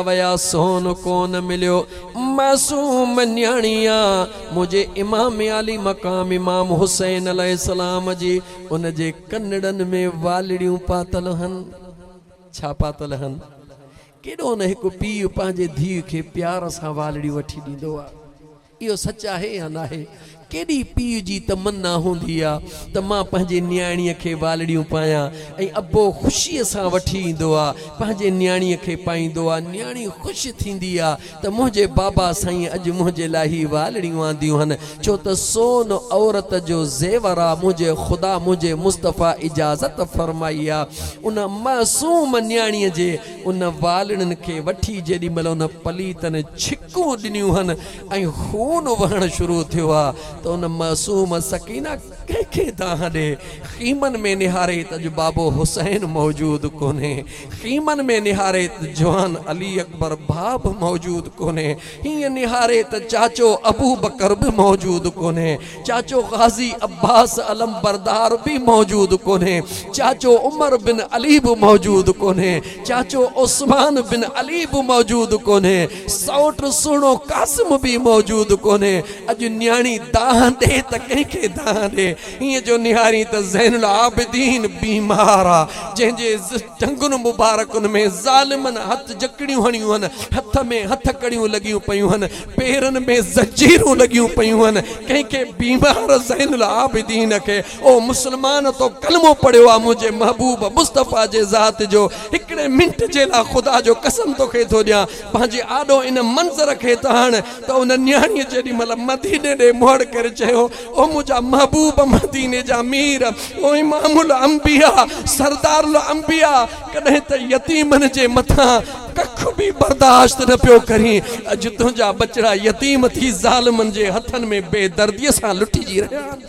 ويا سون ڪونه مليو. معصوم نياڻي آ منهنجي امام عالي مقام امام حسين عليه السلام جي ان جي ڪنڙن ۾ والڙيون پاتل هن ڇا پاتل هن ڪيڏو نه هڪ پيء پنهنجي ڌيء کي پيار سان والڙيون وٺي ڏيندو آ اهو سچ آهي يا ناهي؟ ڪيڏي پيء جي تمنا هوندي آ ته مان پنهنجي نياڻيء کي والڙيون پايان ۽ ابو خوشيء سان وٺي ايندو آ، پنهنجي نياڻيء کي پائيندو آ، نياڻي خوش ٿيندي آ ته منهنجي بابا سائينء اڄ منهنجي لاء هي والڙيون آنديون هن، ڇو ته سون عورت جو زيور آ، منهنجي خدا، منهنجي مصطفيٰ اجازت فرمائي آ ان معصوم نياڻيء جي ان والڙين کي وٺي جيڏي مهل ان پليتن ڇڪ ٽڪون ڏنيون هن ۽ خون وهڻ شروع ٿيو ها ته ان معصوم سڪينه ڪنهن کي دانهن ڏي. خيمن ۾ نهاري ته اڄ بابو حسين موجود ڪونهي. خيمن ۾ نهاري ته جوان علي اڪبر ڀاء به موجود ڪونهي. هينئن نهاري ته چاچو ابوبڪر به موجود ڪونهي. چاچو غازي عباس علمبردار به موجود ڪونهي، چاچو عمر بن علي به موجود ڪونهي، چاچو عثمان بن علي به موجود ڪونهي، سئوٽ سهڻو قاسم به موجود ڪونهي، اڄ نياڻي دانهن ڏي ته ڪنهن کي دانهن ڏي، هينئن جو نهارين ته زين العابدين بيمار آ، جنهن جي ٽنگن مبارڪن ۾ ظالمن هٿ جڪڙيون هڻيون هن، هٿ ۾ هٿڪڙيون لڳيون پيون هن، پيرن ۾ زنجيرون لڳيون پيون هن، ڪنهن کي بيمار زين العابدين کي، او مسلمان تو ڪلمو پڙهيو آ منهنجي محبوب مصطفيٰ جي ذات جو، هڪڙي منٽ جي لا خدا جو قسم توکي ٿو ڏيان پنهنجي آڏو ان منظر کي ته هڻ ته ان نياڻيء جيڏي مهل مديني ڏي مهڙ ڪري چيو او منهنجا محبوب مديني جا مير او امام الانبياء سردار الانبياء ڪڏهن ته يتيمن جي مٿان ڪک به برداشت نه پيو ڪرين، اڄ تنهنجا ٻچڙا يتيم ٿي ظالمن جي هٿن ۾ بي درديء سان لٽجي رهيا آهن.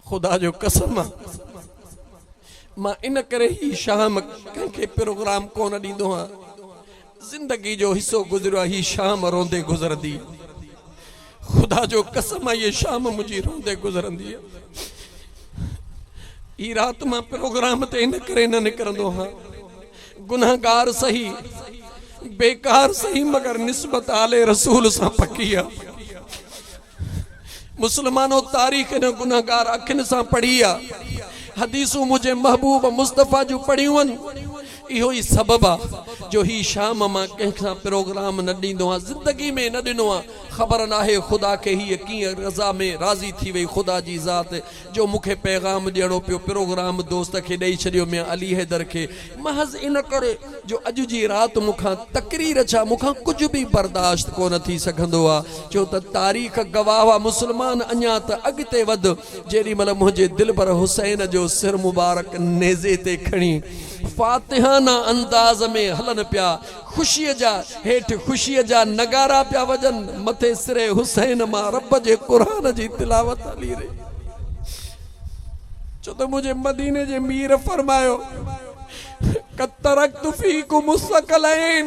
خدا جو قسم آ مان ان ڪري هي شام ڪنهن کي پروگرام ڪونه ڏيندو آهيان. زندگي جو حصو گذريو آ هي شام روندي گذرندي خدا جو قسم آ هي شام منهنجي روندي گذرندي هي رات مان پروگرام تي ان ڪري نه نڪرندو هان گنهگار سهي بيڪار سهي مگر نسبت آل رسول سان پڪي آ مسلمانو! تاريخ هن گنهگار اکين سان پڙهي آ، حديثون منهنجي محبوب مصطفيٰ جون پڙهيون هن، اهو ئي سبب آ جو هي شام مان ڪنهن کان پروگرام نه ڏيندو آ، زندگي ۾ نه ڏنو آ، خبر ناهي خدا کي هيء ڪيئن رضا ۾ راضي ٿي وئي، خدا جي ذات جو مون کي پيغام ڏيڻو پيو، پروگرام دوست کي ڏئي ڇڏيو ميان علي حيدر کي، محض ان ڪري جو اڄ جي رات مون کان تقرير ڇا مون کان ڪجهه به برداشت ڪونه ٿي سگهندو آ، ڇو ته تاريخ گواهه آ مسلمان اڃا ته اڳتي وڌ جيڏي مهل منهنجي دلبر حسين جو سر مبارڪ نيزي تي کڻي فاتحانه انداز ۾ هلن پيا خوشيء جا هيٺ خوشيء جا نغارا پيا وڄن، مٿي سري حسين مان رب جي قرآن جي تلاوت هلي رهي آهي. ڇو ته منهنجي مديني جي مير فرمايو، قد ترڪت فيڪم الثقلين.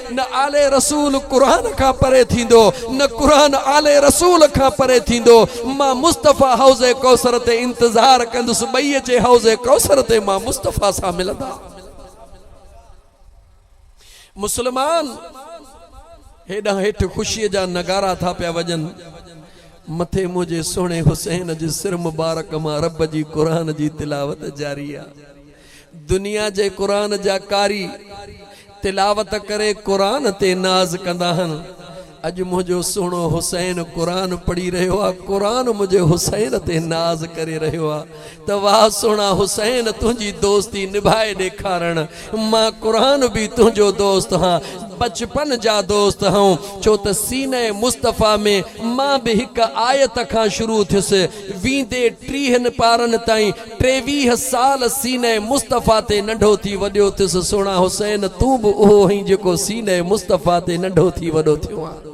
نه آل رسول قرآن کان پري ٿيندو نه قرآن آل رسول کان پري ٿيندو مان مصطفيٰ حوض ڪوثر تي انتظار ڪندس ٻئي اچي حوض ڪوثر تي مان مصطفيٰ سان ملندا مسلمان هيڏانهن هيٺ خوشي جا نغارا ٿا پيا وڄن مٿي منهنجي سهڻي حسين جي سر مبارڪ مان رب جي قرآن جي تلاوت جاري آ دنيا جي قرآن جا قاري تلاوت ڪري قرآن تي ناز ڪندا هن اڄ منهنجو سهڻو حسين قرآن پڙهي رهيو آ قرآن منهنجي حسين تي ناز ڪري رهيو آ ته واه سهڻا حسين تنهنجي دوستي نڀائي ڏيکارڻ مان قرآن به تنهنجو دوست هان بچپن جا دوست هئون ڇو ته سينه مصطفيٰ ۾ مان به هڪ آيت کان شروع ٿيس ويندي ٽيهن پارن تائين ٽيويهه سال سينه مصطفيٰ تي ننڍو ٿي وڏيو ٿيس سهڻا حسين تون به اهو هئين جيڪو سينه مصطفيٰ تي ننڍو ٿي وڏو ٿيو آهن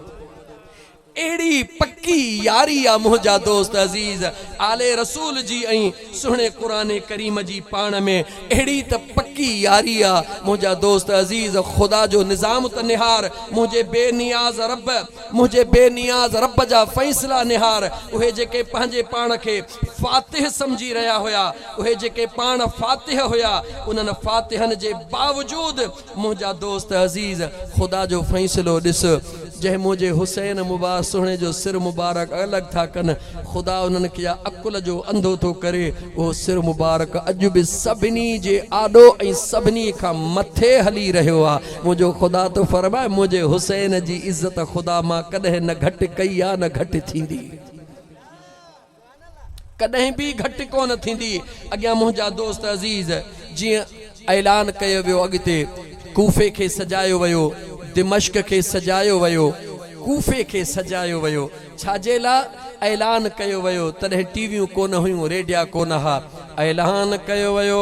اهڙي پڪي ياري آ منهنجا دوست عزيز آل رسول جي ۽ سهڻي قرآن ڪريم جي پاڻ ۾ اهڙي ته پڪي ياري آ منهنجا دوست عزيز خدا جو نظام ته نهار منهنجي بي نياز رب منهنجي بي نياز رب جا فيصلا نهار اهي جيڪي پنهنجي پاڻ کي فاتح سمجهي رهيا هيا، اهي جيڪي پاڻ فاتح هيا، انهن فاتحن جي باوجود منهنجا دوست عزيز خدا جو فيصلو ڏس جنهن منهنجي حسين مبا سهڻي جو سر مبارڪ الڳ ٿا ڪن خدا انهن کي عقل جو انڌو ٿو ڪري اهو سر مبارڪ اڄ به سڀني جي آڏو ۽ سڀني کان مٿي هلي رهيو آ منهنجو خدا ته فرماء منهنجي حسين جي عزت خدا مان ڪڏهن نه گهٽ ڪئي آ نه گهٽ ٿيندي. ڪڏهن به گهٽ ڪونه ٿيندي. اڳيان منهنجا دوست عزيز جيئن اعلان ڪيو ويو اڳتي ڪوفي کي سجايو ويو دمشق کي سجايو ويو ڪوفي کي سجايو ويو ڇاجي لا اعلان ڪيو ويو تڏهن ٽي ويون ڪونه هيون ريڊيا ڪونه ها اعلان ڪيو ويو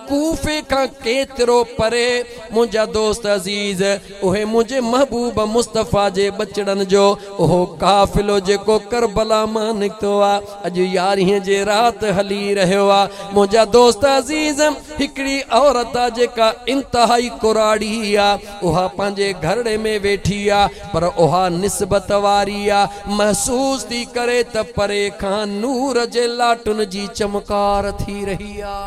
ڪوفي کان ڪيترو پري منهنجا دوست عزيز، اهي منهنجي محبوب مصطفيٰ جي ٻچڙن جو اهو قافلو جيڪو ڪربلا مان نڪتو آ، اڄ يارهين جي رات هلي رهيو آ. منهنجا دوست عزيز، هڪڙي عورت آ جيڪا انتهائي ڪراڙي آ. اها پنهنجي گهرڙي ۾ ويٺي آ پر اها نسبت واري آ، محسوس ٿي ڪري ته پري کان نور جي لاٽن جي چمڪار ٿي رهي آ.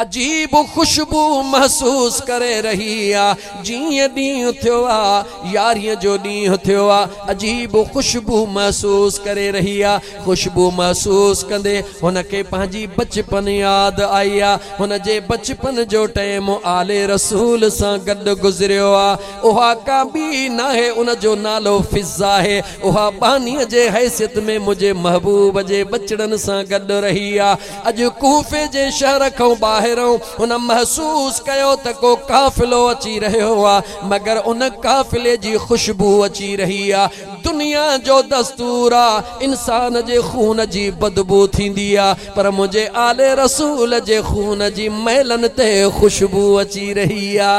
عجيب خوشبو محسوس ڪري رهي آ، جيئن ڏينهن ٿيو آ، يارهين جو ڏينهن ٿيو آ، عجيب خوشبو محسوس ڪري رهي آ. خوشبو محسوس ڪندي هن کي پنهنجي بچپن ياد آئي آ. هن جي بچپن جو ٽئيم آل رسول سان گڏ گذريو آ. اها ڪا ٻي ناهي ان جو نالو فضاهي. اها ٻانهي جي حيثيت ۾ منهنجي محبوب جي ٻچڙن سان گڏ رهي آ. اڄ ڪوفي جي شهر کان ٻاهران هن محسوس ڪيو ته ڪو قافلو اچي رهيو آ مگر ان قافلي جي خوشبو اچي رهي آ. دنيا جو دستور آ انسان جي خون جي بدبو ٿيندي آ پر منهنجي آل رسول جي خون جي مئلن تي خوشبو اچي رهي آ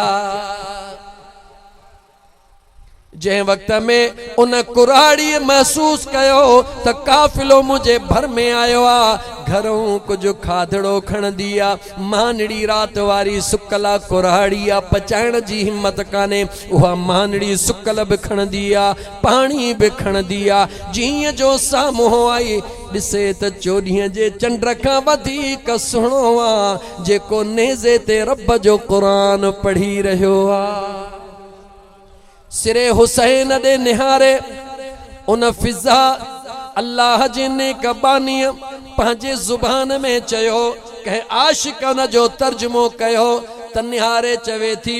جنهن وقت ۾ ان ڪراڙي محسوس ڪيو ته قافلو منهنجي ڀر ۾ آيو آ گهرئون ڪجهه کاڌڙو کڻندي آ مانڙي رات واري سڪل آ ڪراڙي آ پچائڻ جي همت ڪانهي اها مانڙي سڪل به کڻندي آ، پاڻي به کڻندي آ، جيئن جو سامهون آئي ڏسي ته چوڏهين جي چنڊ کان وڌيڪ سهڻو آ، جيڪو نيزي تي رب جو قرآن پڙهي رهيو آ. سري حسين ڏي نهاري ان فضا الله جي نيڪ بانيء پنهنجي زبان ۾ چيو، ڪنهن عاشقانه جو ترجمو ڪيو ته نهاري چوي ٿي،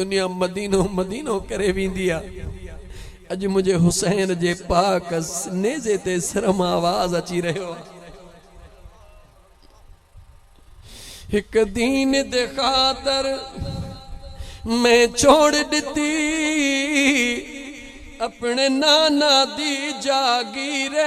دنيا مدينو مدينو ڪري ويندي آ اڄ منهنجي حسين جي پاڪ نيزي تي سرم آواز اچي رهيو آ هڪ دين دي خاطر مين ڇوڙ ڏتي اپڻي نانا دي جاگيري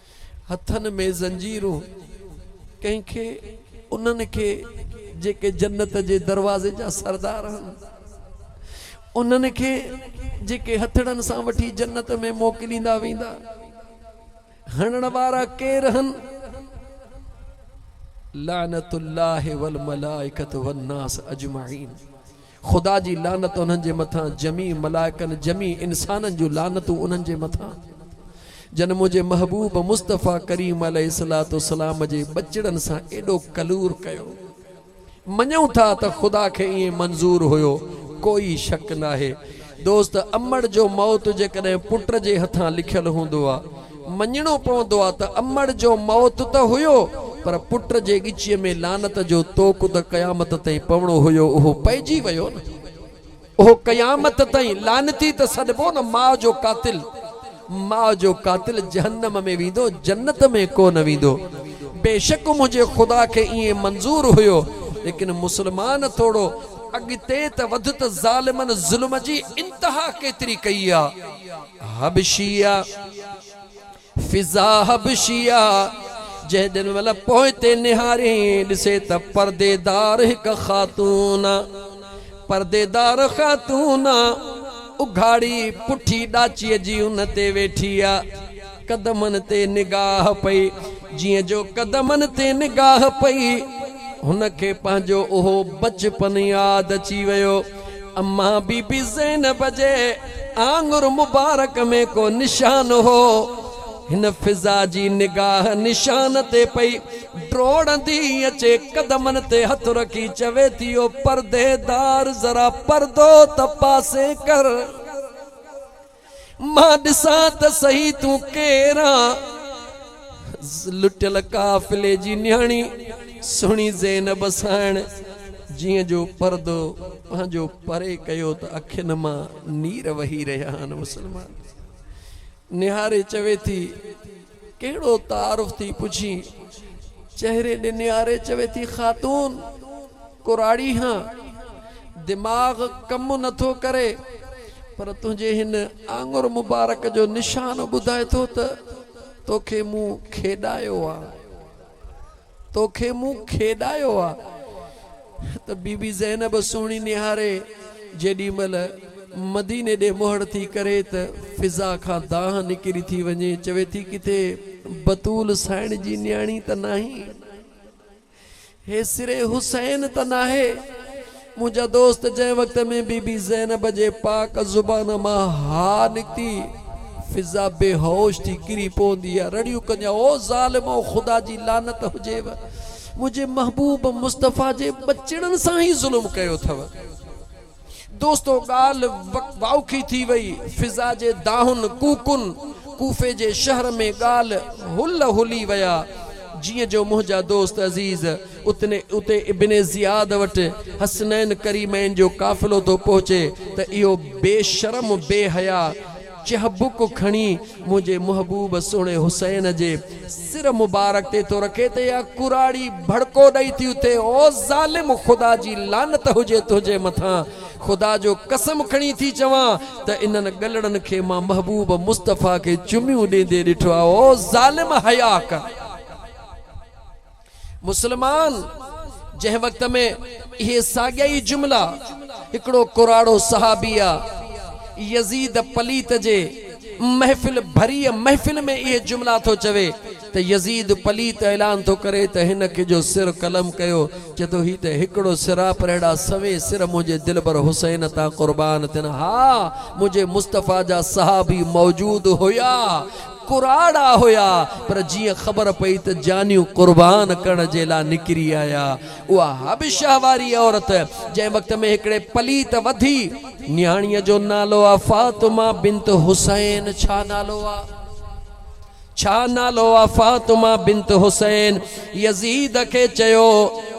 هٿن ۾ زنجيرون، ڪنهن کي انهن کي جيڪي جنت جي دروازي جا سردار هن، انهن کي جيڪي هٿڙن سان وٺي جنت ۾ موڪليندا ويندا، هڻڻ وارا ڪير هن؟ لعنت الله والملائکة والناس اجمعين. خدا جي لعنت انهن جي مٿان، جميع ملائڪن، جميع انسانن جون لعنتون انهن جي مٿان، جن منهنجي محبوب مصطفيٰ ڪريم عليه الصلوة والسلام جي ٻچڙن سان ايڏو ڪلور ڪيو. مڃون ٿا ته خدا کي ائين منظور هيو، ڪوئي شڪ ناهي. دوست امڙ جو موت جيڪڏهن پٽ جي هٿان لکيل هوندو ها، مڃڻو پوندو ها ته امڙ جو موت ته هيو پر پٽ جي ڳچيء ۾ لعنت جو طوق ته قيامت تائين پوڻو هيو اهو پئجي ويو نه. اهو قيامت تائين لعنتي ته سڏبو نه ماء جو قاتل ماء جو قاتل جهنم ۾ ويندو جنت ۾ ڪو نه ويندو بيشڪ منهنجي خدا کي ائين منظور هيو ليڪن مسلمان ٿورو اڳتي ته وڌ ته ظالمن ظلم جي انتها ڪيتري ڪئي آ حبشيه فضا حبشيه جهيڏن مهل پوئتي نهاري ڏسي ته پرديدار هڪ خاتون. پرديدار خاتون آ، اگهاڙي پٺي ڏاچيء جي ان تي ويٺي آ. قدمن تي نگاهه پئي. جيئن جو قدمن تي نگاهه پئي، هن کي پنهنجو اهو بچپن ياد اچي ويو. امان بي بي زينب جي آڱر مبارڪ ۾ ڪو نشان هو. هن فضا جي نگاهه نشان تي پئي. ڊوڙندي اچي قدمن تي هٿ رکي چوي ٿي او پرديدار ذرا پردو ته پاسي ڪر مان ڏسان ته سهي تون ڪير آن؟ لٽيل قافلي جي نياڻي سهڻي زينب ساڻ جيئن جو پردو پنهنجو پري ڪيو ته اکين مان نير وهي رهيا آهن مسلمان نهاري چوي ٿي ڪهڙو تعارف ٿي پڇين. چهري ڏي نهاري چوي ٿي خاتون! ڪراڙي هان. دماغ ڪم نه ٿو ڪري. پر تنهنجي هن آڱر مبارڪ جو نشان ٻڌائي ٿو ته توکي مون کيڏايو آ. توکي مون کيڏايو آ ته بي بي زينب سهڻي نهاري جيڏي مهل مديني ڏي مهڙ ٿي ڪري ته فضا کان دانهن نڪري ٿي وڃي چوي ٿي ڪٿي بتول سائڻ جي نياڻي ته ناهي هي سري حسين ته ناهي منهنجا دوست جنهن وقت ۾ بي بي زينب جي پاڪ زبان مان ها نڪتي فضا بيهوش ٿي ڪري پوندي ها رڙيون ڪنديا او ظالمو خدا جي لعنت هجيو منهنجي محبوب مصطفي جي ٻچڙن سان هي ظلم ڪيو اٿو دوستو ڳالهه واوکي ٿي وئي فضا جي دانهن ڪوڪن ڪوفي جي شهر ۾ ڳالهه هل هلي ويا جيئن جو منهنجا دوست عزيز اتي ابن زياد وٽ حسنين ڪريمين جو قافلو ٿو پهچي ته اهو بي شرم بي حياء چهبڪ کڻي منهنجي محبوب سهڻي حسين جي سر مبارڪ تي ٿو رکي ته يا ڪراڙي ڀڙڪو ڏئي ٿي اٿي او ظالم خدا جي لعنت هجي تنهنجي مٿان خدا جو قسم کڻي ٿي چوان ته انهن ڳلڙن کي مان محبوب مصطفيٰ کي چميون ڏيندي ڏٺو آهي او ظالم حياء ڪر. مسلمان جنهن وقت ۾ اهي ساڳيا ئي جملا هڪڙو ڪراڙو صحابي آ يزيد پليت جي محفل ڀريء محفل ۾ اهي جملا ٿو چوي ته يزيد پليت اعلان ٿو ڪري ته هن کي جو سر قلم ڪيو چئي ٿو هي ته هڪڙو سراپرهڙا سوين سر منهنجي دلبر حسين تان قربان ٿين ها منهنجي مصطفيٰ جا صحابي موجود هيا ڪراڙا هيا پر جيئن خبر پئي ته جانيون قربان ڪرڻ جي لا نڪري آيا اها حبشه واري عورت جنهن وقت ۾ هڪڙي پليت وڌي نياڻيء جو نالو آ فاطمه بنت حسين ڇا نالو آ ڇا نالو آ فاطمه بنت حسين يزيد کي چيو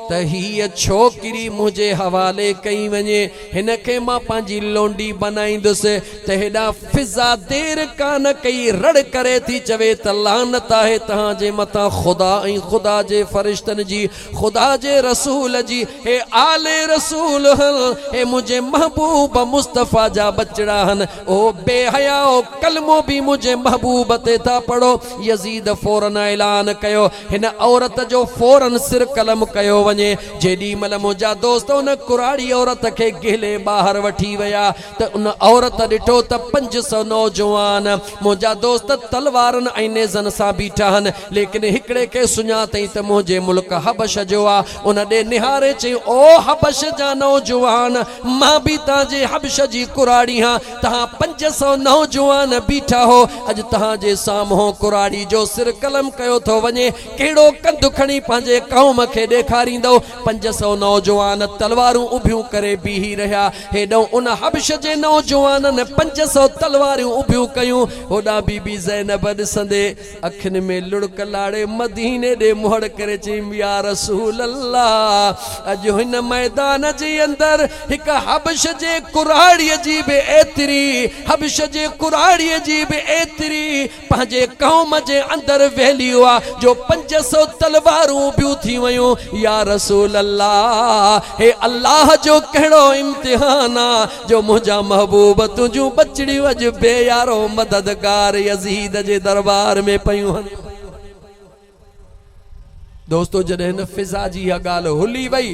ته هيء ڇوڪري منهنجي حوالي ڪئي وڃي هن کي مان پنهنجي لونڊي بنائيندس ته هيڏا فضا دير ڪانه ڪئي رڙ ڪري ٿي چوي ته لعنت آهي توهان جي مٿان خدا ۽ خدا جي فرشتن جي خدا جي رسول جي هي آل رسول هن هي منهنجي محبوب مصطفيٰ جا ٻچڙا هن او بي حيائو ڪلمو به منهنجي محبوب تي ٿا پڙهو يزيد فورن اعلان ڪيو هن عورت جو فورن سر قلم ڪيو وڃي جيڏي مهل منهنجا دوست ان ڪراڙي عورت کي گهلي ٻاهر وٺي ويا ته ان عورت ڏٺو ته پنج سؤ نوجوان منهنجا دوست تلوارن ۽ نيزن سان بيٺا آهن، ليڪن هڪڙي کي سڃاتئين ته منهنجي ملڪ حبشه جو آ، ان ڏي نهاري چيائين، او حبشه جا نوجوان! مان به تهان جي حبشه جي ڪراڙي هان، تهان پنج سؤ نوجوان بيٺا هو، اڄ تهان جي سامهون ڪراڙي جو سر قلم ڪيو ٿو وڃي، ڪهڙو ڪنڌ کڻي پنهنجي قوم کي ڏيکاريندؤ؟ پنج سؤ نوجوان تلوارون اڀيون ڪري بيهي رهيا. هيڏانهن ان حبش جي نوجوانن پنج سؤ تلواريون اڀيون ڪيون، هوڏانهن بي بي زينب ڏسندي اکين ۾ لڙڪ لاڙي مديني ڏي منهن ڪري چيم، يا رسول الله! اڄ هن ميدان جي اندر هڪ حبش جي ڪراڙيء جي به ايتري حبش جي ڪراڙيء جي به ايتري پنهنجي قوم جي اندر ويلي هئا جو پنج سؤ تلوارون بيون ٿي ويون يا رسول الله هي الله جو ڪهڙو امتحان آ جو منهنجا محبوب تنهنجون ٻچڙيون اڄ بي يارو مددگار يزيد جي دربار ۾ پيون هن دوستو جڏهن هن فضا جي اها ڳالهه هلي وئي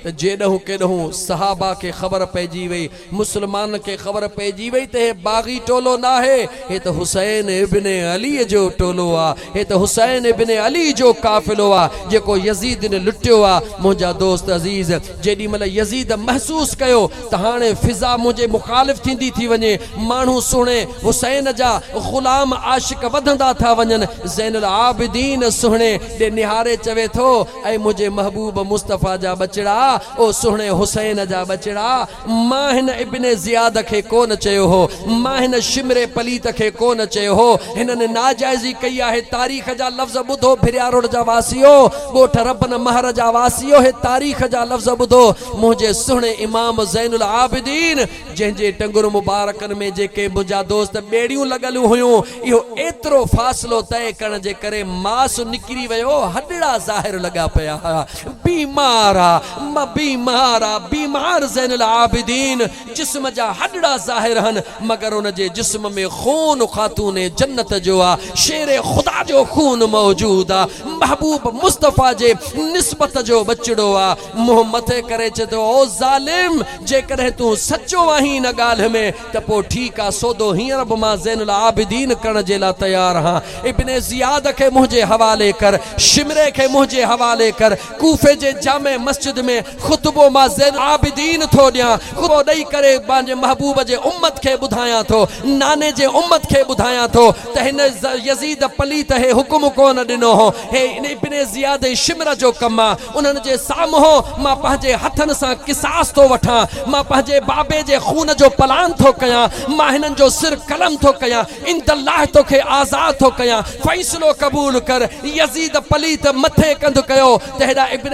ته جيڏهون ڪيڏهون صحابه کي خبر پئجي وئي، مسلمانن کي خبر پئجي وئي ته هي باغي ٽولو ناهي، هي ته حسين ابن علي جو ٽولو آ، هي ته حسين ابن علي جو قافلو آ، جيڪو يزيدين لٽيو آ، منهنجا دوست عزيز! جيڏي مھل يزيد محسوس ڪيو ته ھاڻي فضا منھنجي مخالف ٿيندي ٿي وڃي، ماڻھو سھڻي حسين جا غلام عاشق وڌندا ٿا وڃن، زين العابدين سھڻي ڏي نھاري چوي ٿو، اي منھنجي محبوب مصطفيٰ جا ٻچڙا، او سھڻي حسين جا ٻچڙا، مان ھن ابن زياد کي ڪو نه چيو ھو، مان ھن شمر پليت کي ڪو نه چيو ھو، ھنن ناجائزي ڪئي آھي، تاريخ جا لفظ ٻڌو ڀرياروڊ جا واسيو! ڳوٺ ربن مهر جا واسيو هي تاريخ جا لفظ ٻڌو منهنجي سهڻي امام زين العابدين جنهن جي ٽنگن مبارڪن ۾ جيڪي منهنجا دوست ٻيڙيون لڳل هيون اهو ايترو فاصلو طئي ڪرڻ جي ڪري ماس نڪري ويو هڏڙا ظاهر لڳا پيا هيا بيمار آ مان بيمار آ بيمار زين العابدين جسم جا هڏڙا ظاهر هن مگر ان جي جسم ۾ خون خاتون جنت جو آ، شير خدا جو خون موجود آ، محبوب مصطفيٰ جي نسبت جو ٻچڙو آ، منهن مٿي ڪري چي ٿو او ظالم! جيڪڏهن تون سچو آهين ان ڳالهه ۾ ته پوء ٺيڪ آ، سودو هينئر به مان زين العابدين ڪرڻ جي لا تيار هان، ابن زياد کي منهنجي حوالي ڪر، شمري کي منهنجي حوالي ڪر، ڪوفي جي جامع مسجد ۾ خطبو مان زين العابدين ٿو ڏيان، خطبو ڏئي ڪري پنهنجي محبوب جي امت کي ٻڌايان ٿو، ناني جي امت کي ٻڌايان ٿو ته هن يزيد پليت هي حڪم ڪونه ڏنو هو، هي ابن زياد شمر جو ڪم آ، انهن جي سامهون مان پنهنجي هٿن سان قصاص ٿو وٺان، مان پنهنجي بابي جي خون جو پلان ٿو ڪيان، مان هنن جو سر قلم ٿو ڪيان. عند الله توکي آزاد ٿو ڪيان فيصلو قبول ڪر يزيد پليت مٿي ڪنڌ ڪيو ته هيڏانهن ابن